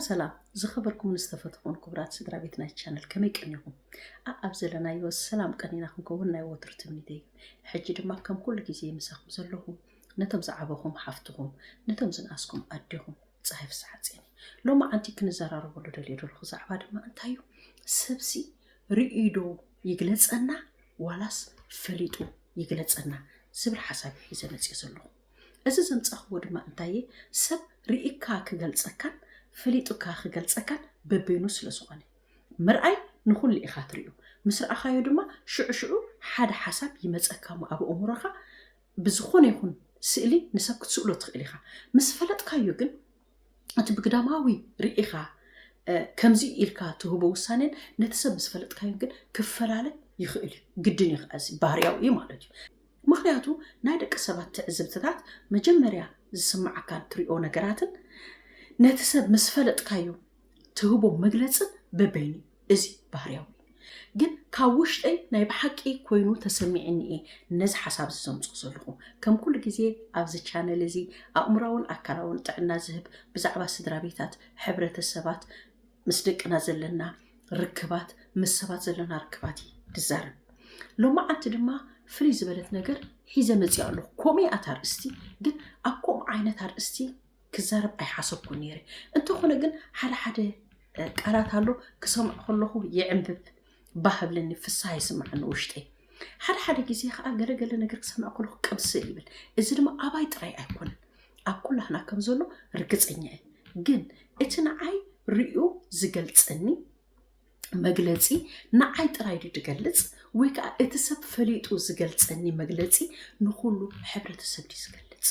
ሰላም ዝኸበርኩምን ዝተፈተኹን ክቡራት ስድራ ቤት ናይ ቻነል ከመይ ቀኒኹም ኣብ ዘለናዮ ሰላም ቀኒና ክንከውን ናይ ወትሩ ትምኒት እዩ ሕጂ ድማ ከም ኩሉ ግዜ ምሳኹም ዘለኹ ነቶም ዝዓበኹም ሓፍትኹም ነቶም ዝንኣስኩም ኣዴኹም ፀሃይ ፍስሓ ጼኒ ሎማዓንቲ ክንዘራረበሉ ደልየ ደለኹ ዛዕባ ድማ እንታይ እዩ ሰብሲ ርእዩ ዶ ይግለፀና ዋላስ ፈሊጡ ይግለፀና ዝብል ሓሳብ እዩ ሒዘ መፅየ ዘለኹ እዚ ዘምፃእኽዎ ድማ እንታየ ሰብ ርኢካ ክገልፀካን ፈሊጡካ ክገልፀካን በበይኑ ስለ ዝኾነ ምርኣይ ንኹሉ ኢኻ ትሪኡ ምስ ረኣኻዮ ድማ ሽዑ ሽዑ ሓደ ሓሳብ ይመፀካ እሞ ኣብ ኣእምሮኻ ብዝኾነ ይኹን ስእሊ ንሰብ ክትስእሎ ትኽእል ኢኻ። ምስ ፈለጥካዮ ግን እቲ ብግዳማዊ ርኢኻ ከምዚ ኢልካ ትህቦ ውሳኔን ነቲ ሰብ ምስፈለጥካዮን ግን ክፈላለ ይኽእል እዩ። ግድን እዩ ከዓ እዚ ባህርያዊ እዩ ማለት እዩ። ምክንያቱ ናይ ደቂ ሰባት ትዕዝብትታት መጀመርያ ዝስምዓካን ትሪኦ ነገራትን ነቲ ሰብ ምስ ፈለጥካዮ ትህቦ መግለጽን በበይኑ እዩ እዚ ባህርያዊ እዩ ግን ካብ ውሽጠይ ናይ ብሓቂ ኮይኑ ተሰሚዕኒ እየ ነዚ ሓሳብ እዚ ዘምጽኦ ዘለኹ ከም ኩሉ ግዜ ኣብዚ ቻነል እዚ ኣእምራውን ኣካላውን ጥዕና ዝህብ ብዛዕባ ስድራ ቤታት ሕብረተሰባት ምስ ደቅና ዘለና ርክባት ምስ ሰባት ዘለና ርክባት እዩ ድዛረብ ሎማዓንቲ ድማ ፍልይ ዝበለት ነገር ሒዘ መፂኣ ኣለኹ ኮሜ ኣት ኣርእስቲ ግን ኣብ ከምኡ ዓይነት ኣርእስቲ ክዛረብ ኣይሓሰብኩን ነይረ እንተኾነ ግን ሓደ ሓደ ቃላት ኣሎ ክሰምዖ ከለኹ ይዕንብብ ባህ ብለኒ ፍስሃ ይስምዓኒ ውሽጠይ ሓደ ሓደ ግዜ ከዓ ገለገለ ነገር ክሰምዕ ከለኩ ቅብስል ይብል እዚ ድማ ኣባይ ጥራይ ኣይኮነን ኣብ ኩላህና ከም ዘሎ ርግፀኛ እዩ ግን እቲ ንዓይ ርዩ ዝገልፀኒ መግለፂ ንዓይ ጥራይ ዱ ዝገልፅ ወይ ከዓ እቲ ሰብ ፈሊጡ ዝገልፀኒ መግለፂ ንኩሉ ሕብረተሰብ ዩ ዝገልፅ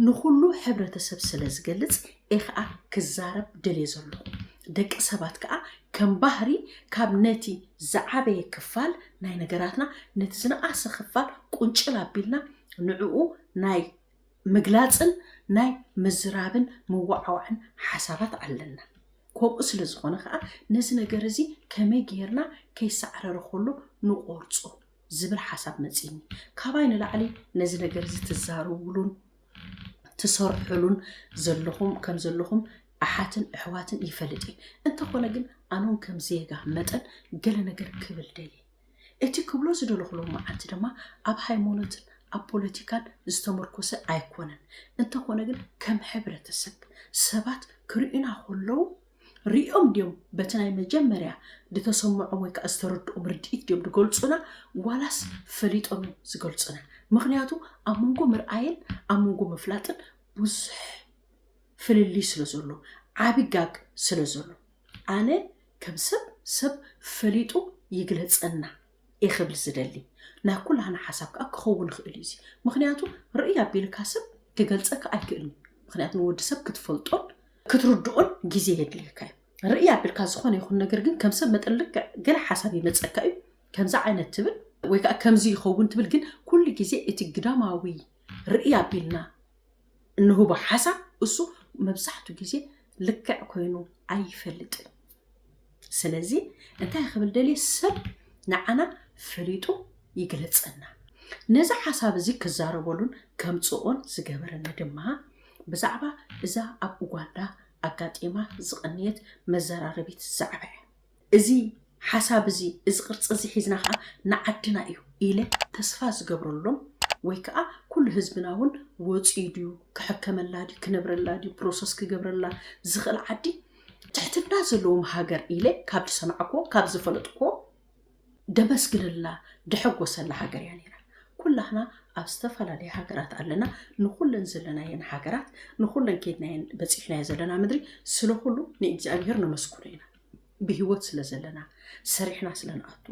ንኹሉ ሕብረተሰብ ስለ ዝገልጽ እየ ከኣ ክዛረብ ደልየ ዘለኹ። ደቂ ሰባት ከኣ ከም ባህሪ ካብ ነቲ ዝዓበየ ክፋል ናይ ነገራትና ነቲ ዝነኣሰ ክፋል ቁንጭል ኣቢልና ንዕኡ ናይ ምግላጽን ናይ ምዝራብን ምወዓዋዕን ሓሳባት ኣለና። ከምኡ ስለ ዝኾነ ከኣ ነዚ ነገር እዚ ከመይ ጌርና ከይሳዕረረ ከሎ ንቆርጾ ዝብል ሓሳብ መፂኒ ካባይ ንላዕሊ ነዚ ነገር እዚ ትዛረቡሉን ትሰርሑሉን ዘለኹም ከም ዘለኹም ኣሓትን ኣሕዋትን ይፈልጥ እየ እንተኾነ ግን ኣነውን ከም ዜጋ መጠን ገለ ነገር ክብል ደልየ እቲ ክብሎ ዝደለኹ ሎማዓንቲ ድማ ኣብ ሃይማኖትን ኣብ ፖለቲካን ዝተመርኮሰ ኣይኮነን። እንተኾነ ግን ከም ሕብረተሰብ ሰባት ክርእዩና ከለዉ ርእዮም ድዮም በቲ ናይ መጀመርያ ዝተሰምዖም ወይ ከዓ ዝተረድኦም ርድኢት ድዮም ዝገልፁና ዋላስ ፈሊጦም እዮም ዝገልፁና? ምክንያቱ ኣብ መንጎ ምርኣይን ኣብ መንጎ ምፍላጥን ብዙሕ ፍልልይ ስለ ዘሎ ዓቢ ጋግ ስለ ዘሎ ኣነ ከም ሰብ ሰብ ፈሊጡ ይግለፀና እየ ክብል ዝደሊ ናይ ኩላህና ሓሳብ ከዓ ክኸውን ይኽእል እዩ ምክንያቱ ርእይ ኣቢልካ ሰብ ክገልፀካ ኣይክእልን ምክንያቱ ንወዲ ሰብ ክትፈልጦን ክትርድኦን ግዜ የድልየካ እዩ ርእይ ኣቢልካ ዝኾነ ይኹን ነገር ግን ከም ሰብ መጠን ልክዕ ገለ ሓሳብ ይመፀካ እዩ ከምዚ ዓይነት ትብል ወይ ከዓ ከምዚ ይኸውን ትብል ግን ኩሉ ግዜ እቲ ግዳማዊ ርእይ ኣቢልና እንህቦ ሓሳብ እሱ መብዛሕቱ ግዜ ልክዕ ኮይኑ ኣይፈልጥን ስለዚ እንታይ ክብል ደልየ ሰብ ንዓና ፈሊጡ ይግለጸና ነዚ ሓሳብ እዚ ክዛረበሉን ከምጽኦን ዝገበረኒ ድማ ብዛዕባ እዛ ኣብ ኡጋንዳ ኣጋጢማ ዝቐነየት መዘራረቢት ዛዕባ እያ። እዚ ሓሳብ እዚ እዚ ቅርጺ እዚ ሒዝና ከኣ ንዓድና እዩ ኢለ ተስፋ ዝገብረሎም ወይ ከኣ ኩሉ ህዝብና ውን ወጽዩ ድዩ ክሕከመላ ድዩ ክነብረላ ድዩ ፕሮሰስ ክገብረላ ዝኽእል ዓዲ ትሕትና ዘለዎም ሃገር ኢለ ካብ ዝሰማዕክዎ ካብ ዝፈለጥክዎ ደመስግነላ ድሕጎሰላ ሃገር እያ ኔራ። ኩላህና ኣብ ዝተፈላለየ ሃገራት ኣለና ንኹለን ዘለናየን ሃገራት ንኹለን ከይድናየን በጺሕናዮ ዘለና ምድሪ ስለ ኩሉ ንእግዚኣብሄር ነመስግኖ ኢና። ብህይወት ስለ ዘለና ሰሪሕና ስለ ንኣቱ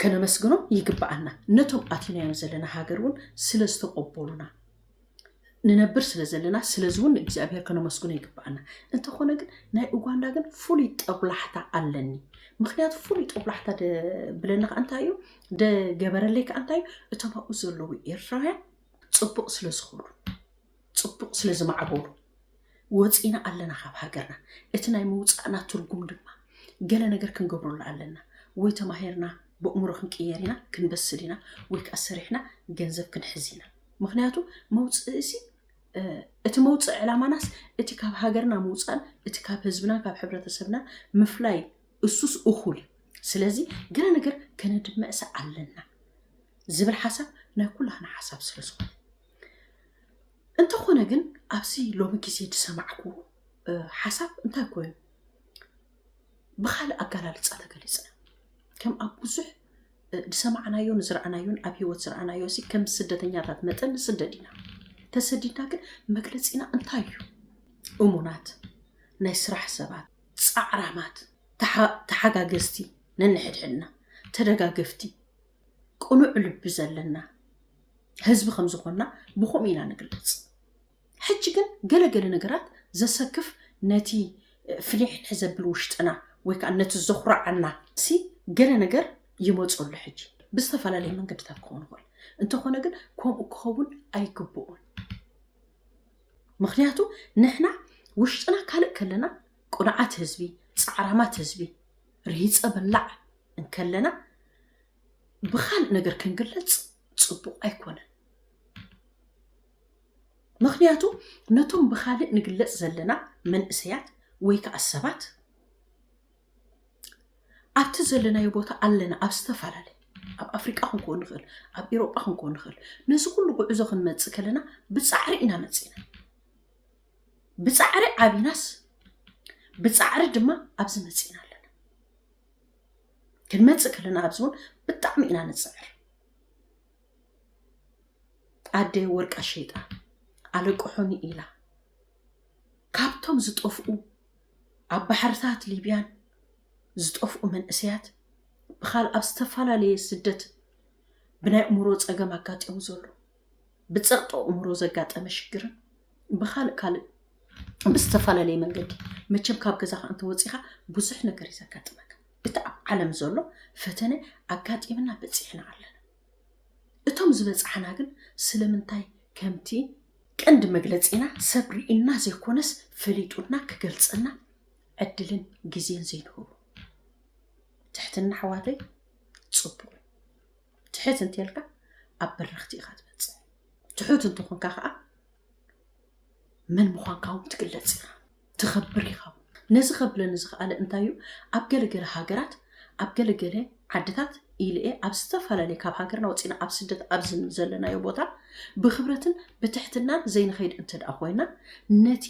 ከነመስግኖም ይግብኣና ነቶም ኣቲናዮም ዘለና ሃገር ውን ስለ ዝተቆቦሉና ንነብር ስለ ዘለና ስለዚ ውን ንእግዚኣብሄር ከነመስግኖ ይግብኣና እንተኾነ ግን ናይ ኡጋንዳ ግን ፍሉይ ጠብላሕታ ኣለኒ ምክንያቱ ፍሉይ ጠብላሕታ ብለኒ ከዓ እንታይ እዩ ደገበረለይ ከዓ እንታይ እዩ እቶም ኣብኡ ዘለዉ ኤርትራውያን ፅቡቅ ስለ ዝኾኑ ጽቡቕ ስለ ዝማዕበሉ ወጺእና ኣለና ካብ ሃገርና። እቲ ናይ ምውጻእና ትርጉም ድማ ገለ ነገር ክንገብረሉ ኣለና። ወይ ተማሂርና በእምሮ ክንቅየር ኢና፣ ክንበስል ኢና፣ ወይ ከኣ ሰሪሕና ገንዘብ ክንሕዝ ኢና። ምኽንያቱ መውጽእሲ እቲ መውጽእ ዕላማናስ እቲ ካብ ሃገርና ምውጻእን እቲ ካብ ህዝብናን ካብ ሕብረተሰብናን ምፍላይ እሱስ እኹል እዩ። ስለዚ ገለ ነገር ከነድምዕሰ ኣለና ዝብል ሓሳብ ናይ ኩላህና ሓሳብ ስለ ዝኾነ እንተኾነ ግን ኣብዚ ሎሚ ግዜ ዝሰማዕኩ ሓሳብ እንታይ ኮይኑ ብካልእ ኣገላልፃ ተገሊፀ ከም ኣብ ብዙሕ ዝሰማዕናዮን ዝረኣናዮን ኣብ ሂወት ዝረኣናዮ እዚ ከም ስደተኛታት መጠን ንስደድ ኢና ተሰዲድና ግን መግለፂና እንታይ እዩ እሙናት ናይ ስራሕ ሰባት ፃዕራማት ተሓጋገዝቲ ነንሕድሕድና ተደጋገፍቲ ቅኑዕ ልቢ ዘለና ህዝቢ ከም ዝኾንና ብከምኡ ኢና ንግለጽ። ሕጂ ግን ገለ ገለ ነገራት ዘሰክፍ ነቲ ፍኒሕኒሕ ዘብል ውሽጥና ወይ ከኣ ነቲ ዘኹርዓና ሲ ገለ ነገር ይመጾ ኣሎ ሕጂ ብዝተፈላለየ መንገድታት ክኸውን ይኽእል እንተኾነ ግን ከምኡ ክኸውን ኣይግብኡን ምክንያቱ ንሕና ውሽጥና ካልእ ከለና ቁንዓት ህዝቢ ጻዕራማት ህዝቢ ርሂጸ በላዕ እንከለና ብኻልእ ነገር ክንግለጽ ጽቡቕ ኣይኮነን። ምክንያቱ ነቶም ብካልእ ንግለጽ ዘለና መንእሰያት ወይ ከዓ ሰባት ኣብቲ ዘለናዮ ቦታ ኣለና ኣብ ዝተፈላለየ ኣብ ኣፍሪቃ ክንከውን ንኽእል ኣብ ኤሮጳ ክንከውን ንኽእል ነዚ ኩሉ ጉዕዞ ክንመፅእ ከለና ብፃዕሪ ኢና መፂና ብፃዕሪ ዓቢናስ ብፃዕሪ ድማ ኣብዚ መፂና ኣለና ክንመፅእ ከለና ኣብዚ እውን ብጣዕሚ ኢና ንፅዕር ኣደ ወርቃ ሸይጣ ኣለቅሑኒ ኢላ ካብቶም ዝጠፍኡ ኣብ ባሕርታት ሊብያን ዝጠፍኡ መንእሰያት ብካል ኣብ ዝተፈላለየ ስደት ብናይ እምሮ ፀገም ኣጋጢሙ ዘሎ ብጸቕጢ ኣእምሮ ዘጋጠመ ሽግርን ብካልእ ካልእ ብዝተፈላለየ መንገዲ መቸም ካብ ገዛኻ እንተወፂኻ ብዙሕ ነገር እዩ ዘጋጥመካ እቲ ኣብ ዓለም ዘሎ ፈተነ ኣጋጢምና በፂሕና ኣለና እቶም ዝበፅሓና ግን ስለምንታይ ከምቲ ቀንዲ መግለፂና ሰብ ርኢና ዘይኮነስ ፈሊጡና ክገልፀና ዕድልን ግዜን ዘይንህቡ ትሕትና ኣሕዋተይ ፅቡቅ ትሕት እንተልካ ኣብ በረኽቲ ኢኻ ትበፅሕ ትሑት እንተኾንካ ከዓ መን ምዃንካ እውን ትግለፅ ኢኻ ትኸብር ኢኻ ነዚ ከብለኒ ዝኸኣለ እንታይ እዩ ኣብ ገለገለ ሃገራት ኣብ ገለገለ ዓድታት ኢለ እየ ኣብ ዝተፈላለየ ካብ ሃገርና ወፂና ኣብ ስደት ኣብዚ ዘለናዮ ቦታ ብክብረትን ብትሕትናን ዘይንኸይድ እንተ ደኣ ኮይና ነቲ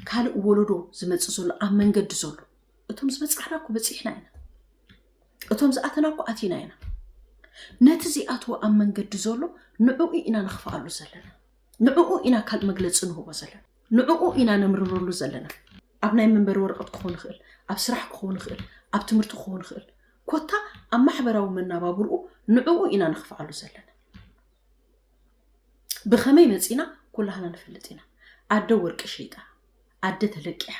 ካልእ ወለዶ ዝመፅእ ዘሎ ኣብ መንገዲ ዘሎ እቶም ዝበፃሕና እኮ በፂሕና ኢና እቶም ዝኣተና እኮ ኣቲና ኢና ነቲ ዚኣትዎ ኣብ መንገዲ ዘሎ ንዕኡ ኢና ንኽፍኣሉ ዘለና ንዕኡ ኢና ካልእ መግለፂ ንህቦ ዘለና ንዕኡ ኢና ነምርረሉ ዘለና ኣብ ናይ መንበሪ ወረቐት ክኸውን ይኽእል ኣብ ስራሕ ክኸውን ይኽእል ኣብ ትምህርቲ ክኸውን ይኽእል ኮታ ኣብ ማሕበራዊ መናባብርኡ ንዕኡ ኢና ንኽፍኣሉ ዘለና ብኸመይ መፂና ኩላህና ንፈልጥ ኢና ኣደ ወርቂ ሸይጣ ኣደ ተለቂሓ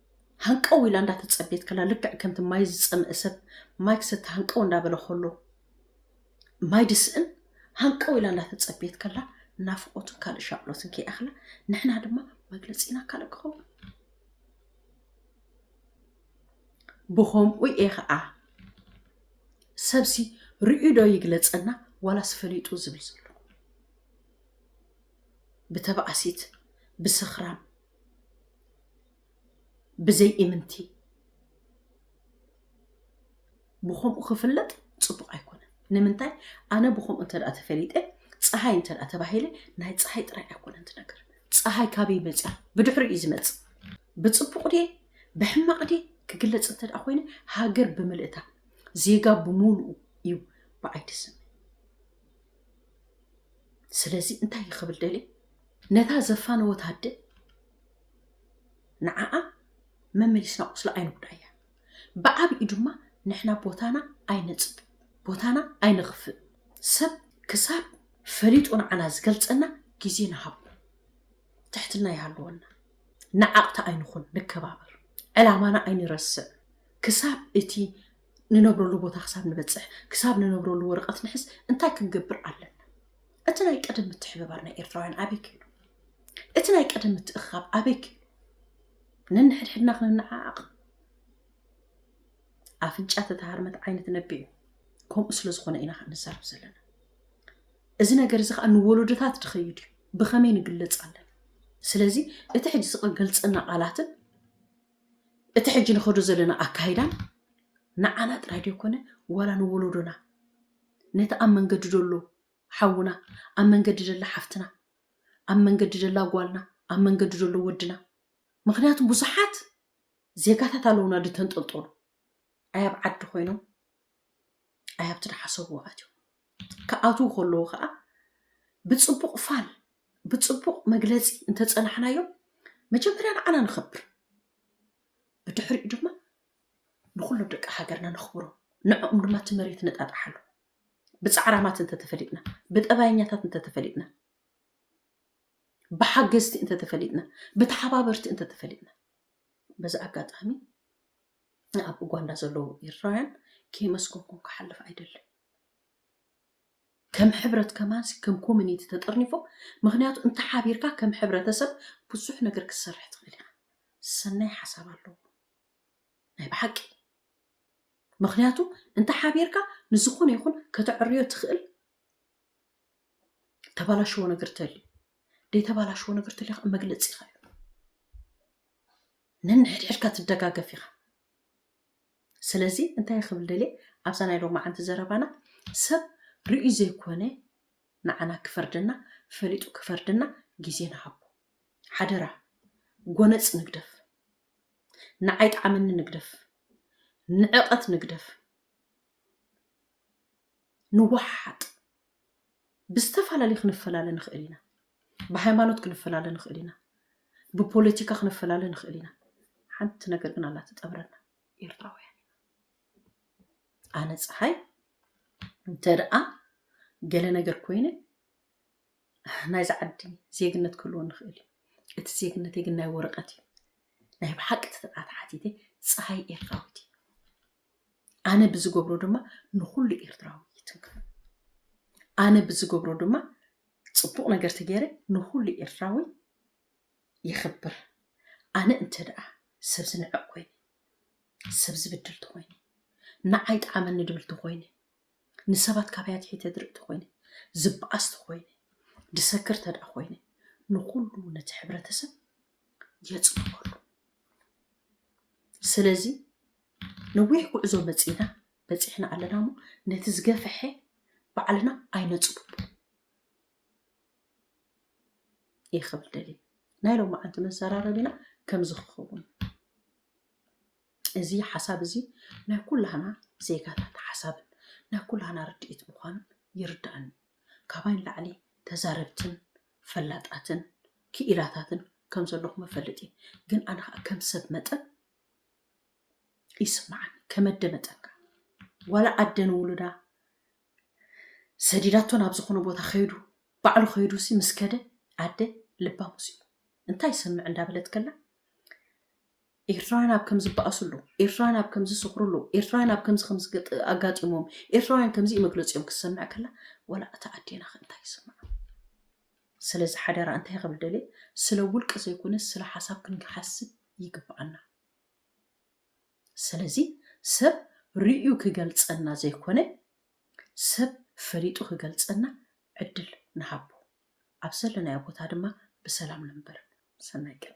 ሃንቀው ኢላ እንዳተጸበየት ከላ ልክዕ ከምቲ ማይ ዝጸምእ ሰብ ማይ ክሰቲ ሃንቀው እንዳበለ ከሎ ማይ ድስእን ሃንቀው ኢላ እንዳተጸበየት ከላ ናፍቆትን ካልእ ሻቅሎትን ከይኣኽላ ንሕና ድማ መግለጺና ካልእ ክኸውን ብኸምኡ እየ ከዓ ሰብሲ ርእዩ ዶ ይግለጸና ዋላስ ፈሊጡ ዝብል ዘሎ ብተባእሲት ብስኽራም ብዘይ እምንቲ ብከምኡ ክፍለጥ ፅቡቅ ኣይኮነን ንምንታይ ኣነ ብከምኡ እንተ ተፈሊጠ ፀሃይ እንተ ተባሂለ ናይ ፀሃይ ጥራይ ኣይኮነን ትነገር ፀሃይ ካበይ መፅያ ብድሕሪ እዩ ዝመፅእ ብፅቡቅ ድየ ብሕማቅ ድየ ክግለፅ እንተ ኮይኑ ሃገር ብምልእታ ዜጋ ብምሉኡ እዩ ብዓይዲ ስም ስለዚ እንታይ ክብል ደልየ ነታ ዘፋነወት ኣደ ንዓኣ መመሊስና ቁስላ ኣይንጉዳያ፣ ብዓቢኡ ድማ ንሕና ቦታና ኣይነጽብ፣ ቦታና ኣይንኽፍእ፣ ሰብ ክሳብ ፈሊጡ ንዓና ዝገልጸና ግዜ ንሃቦ፣ ትሕትና ይሃልወና፣ ነዓቕቲ ኣይንኹን፣ ንከባበር፣ ዕላማና ኣይንረስዕ፣ ክሳብ እቲ ንነብረሉ ቦታ ክሳብ ንበጽሕ፣ ክሳብ ንነብረሉ ወረቐት ንሕዝ እንታይ ክንገብር ኣለና? እቲ ናይ ቀደም ምትሕብባር ናይ ኤርትራውያን ኣበይ ክኢሉ? እቲ ናይ ቀደም ምትእኽኻብ ኣበይ ክኢሉ? ነንሕድሕድና ክንነዓዓቕ ኣፍንጫ ተተሃርመት ዓይኒ ትነብዕ እዩ። ከምኡ ስለ ዝኾነ ኢና ከዓ ንዛረብ ዘለና። እዚ ነገር እዚ ከዓ ንወለዶታት ድኸይድ እዩ። ብኸመይ ንግለጽ ኣለና? ስለዚ እቲ ሕጂ ዝቕገልጸና ቃላትን እቲ ሕጂ ንኸዶ ዘለና ኣካይዳን ንዓና ጥራይ ዶ ኮነ ዋላ ንወለዶና ነቲ ኣብ መንገዲ ደሎ ሓውና ኣብ መንገዲ ደላ ሓፍትና ኣብ መንገዲ ደላ ጓልና ኣብ መንገዲ ደሎ ወድና ምኽንያቱ ብዙሓት ዜጋታት ኣለውና ድተንጠልጠሉ ኣይ ኣብ ዓዲ ኮይኖም ኣይ ኣብቲ ድሓሰብዎ ኣትዮም ክኣትዉ ከለዉ ከዓ ብፅቡቕ ፋል ብፅቡቕ መግለፂ እንተፀናሕናዮ መጀመርያ ንዓና ንኸብር ብድሕሪኡ ድማ ንኹሎም ደቂ ሃገርና ነኽብሮም ንዕኦም ድማ እቲ መሬት ነጣጣሓሉ ብጻዕራማት እንተ ተፈሊጥና፣ ብጠባየኛታት እንተ ተፈሊጥና፣ ብሓገዝቲ እንተ ተፈሊጥና፣ ብተሓባበርቲ እንተ ተፈሊጥና በዚ ኣጋጣሚ ኣብ ኡጋንዳ ዘለዉ ኤርትራውያን ከየመስገንኩም ክሓልፍ ኣይደልን ከም ሕብረት ከማንሲ ከም ኮሚኒቲ ተጠርኒፎም ምክንያቱ እንተ ሓቢርካ ከም ሕብረተሰብ ብዙሕ ነገር ክትሰርሕ ትኽእል ኢኻ ሰናይ ሓሳብ ኣለዎ ናይ ብሓቂ ምኽንያቱ እንተ ሓቢርካ ንዝኾነ ይኹን ከተዕርዮ ትኽእል ተባላሽዎ ነገር ተልዩ ደይተባላሽዎ ነገር ተልዩ ከዓ መግለፂ ኢኻ እዩ ነንሕድሕድካ ትደጋገፍ ኢኻ ስለዚ እንታይ ክብል ደልየ ኣብዛ ናይ ሎማዓንቲ ዘረባና ሰብ ርእዩ ዘይኮነ ንዓና ክፈርደና ፈሊጡ ክፈርደና ግዜ ንሃቦ ሓደራ ጎነፅ ንግደፍ ንዓይ ጣዓመኒ ንግደፍ ንዕቀት ንግደፍ ንዋሓሓጥ ብዝተፋላለዩ ክንፈላለ ንክእል ኢና ብሃይማኖት ክንፈላለ ንክእል ኢና ብፖለቲካ ክንፈላለ ንክእል ኢና ሓንቲ ነገር ግን ኣላ ትጠብረና ኤርትራውያን ኣነ ፀሓይ እንተ ደኣ ገለ ነገር ኮይነ ናይዛ ዓዲ ዜግነት ክህልወኒ ይኽእል እዩ። እቲ ዜግነተይ ግን ናይ ወረቐት እዩ። ናይ ብሓቂ ተተብኣ ተሓቲተ ጸሃይ ኤርትራዊት እየ። ኣነ ብዝገብሮ ድማ ንኹሉ ኤርትራዊ ይትንክፍ። ኣነ ብዝገብሮ ድማ ጽቡቕ ነገር ተገይረ ንኹሉ ኤርትራዊ የኽብር። ኣነ እንተ ደኣ ሰብ ዝንዕቕ ኮይነ፣ ሰብ ዝብድል ተኾይነ፣ ንዓይ ጠዓመኒ ድብል ተኾይነ፣ ንሰባት ካባይ ኣትሒተ ድርኢ ተኾይነ፣ ዝበኣስ ተኾይነ፣ ድሰክር ተድኣ ኮይነ፣ ንኹሉ ነቲ ሕብረተሰብ የጽንበሉ። ስለዚ ነዊሕ ጉዕዞ መጺእና በጺሕና ኣለና እሞ ነቲ ዝገፈሐ ባዕልና ኣይነጽብቦ እየ ክብል ደልየ። ናይ ሎማዓንቲ መዘራረቢና ከምዚ ክኸውን እዩ። እዚ ሓሳብ እዚ ናይ ኩላህና ዜጋታት ሓሳብን ናይ ኩላህና ርድኢት ምዃኑ ይርደኣኒ። ካባይ ንላዕሊ ተዛረብትን ፈላጣትን ክኢላታትን ከም ዘለኹም እፈልጥ እየ። ግን ኣነ ከኣ ከም ሰብ መጠን ይስመዓኒ። ከም ኣደ መጠን ከኣ ዋላ ኣደ ንውሉዳ ሰዲዳቶ ናብ ዝኾነ ቦታ ከይዱ ባዕሉ ከይዱሲ ምስ ከደ ኣደ ልባም ምስ እዩ እንታይ ይሰምዕ እንዳበለት ከላ ኤርትራውያን ኣብ ከምዚ ዝባኣስሉ፣ ኤርትራውያን ኣብ ከምዚ ዝስኽርሉ፣ ኤርትራውያን ኣብ ከምዚ ከምዚ ኣጋጢሞም፣ ኤርትራውያን ከምዚ'ዩ መግለጺኦም ክትሰምዕ ከላ ወላ እታ ኣዴና'ኸ እንታይ ይስምዓ? ስለዚ ሓደራ እንታይ ክብል ደልየ ስለ ውልቂ ዘይኮነስ ስለ ሓሳብ ክንሓስብ ይግባኣና። ስለዚ ሰብ ርእዩ ክገልጸና ዘይኮነ ሰብ ፈሊጡ ክገልጸና ዕድል ንሃቦ። ኣብ ዘለናዮ ቦታ ድማ ብሰላም ንንበር። ሰናይ ቀን።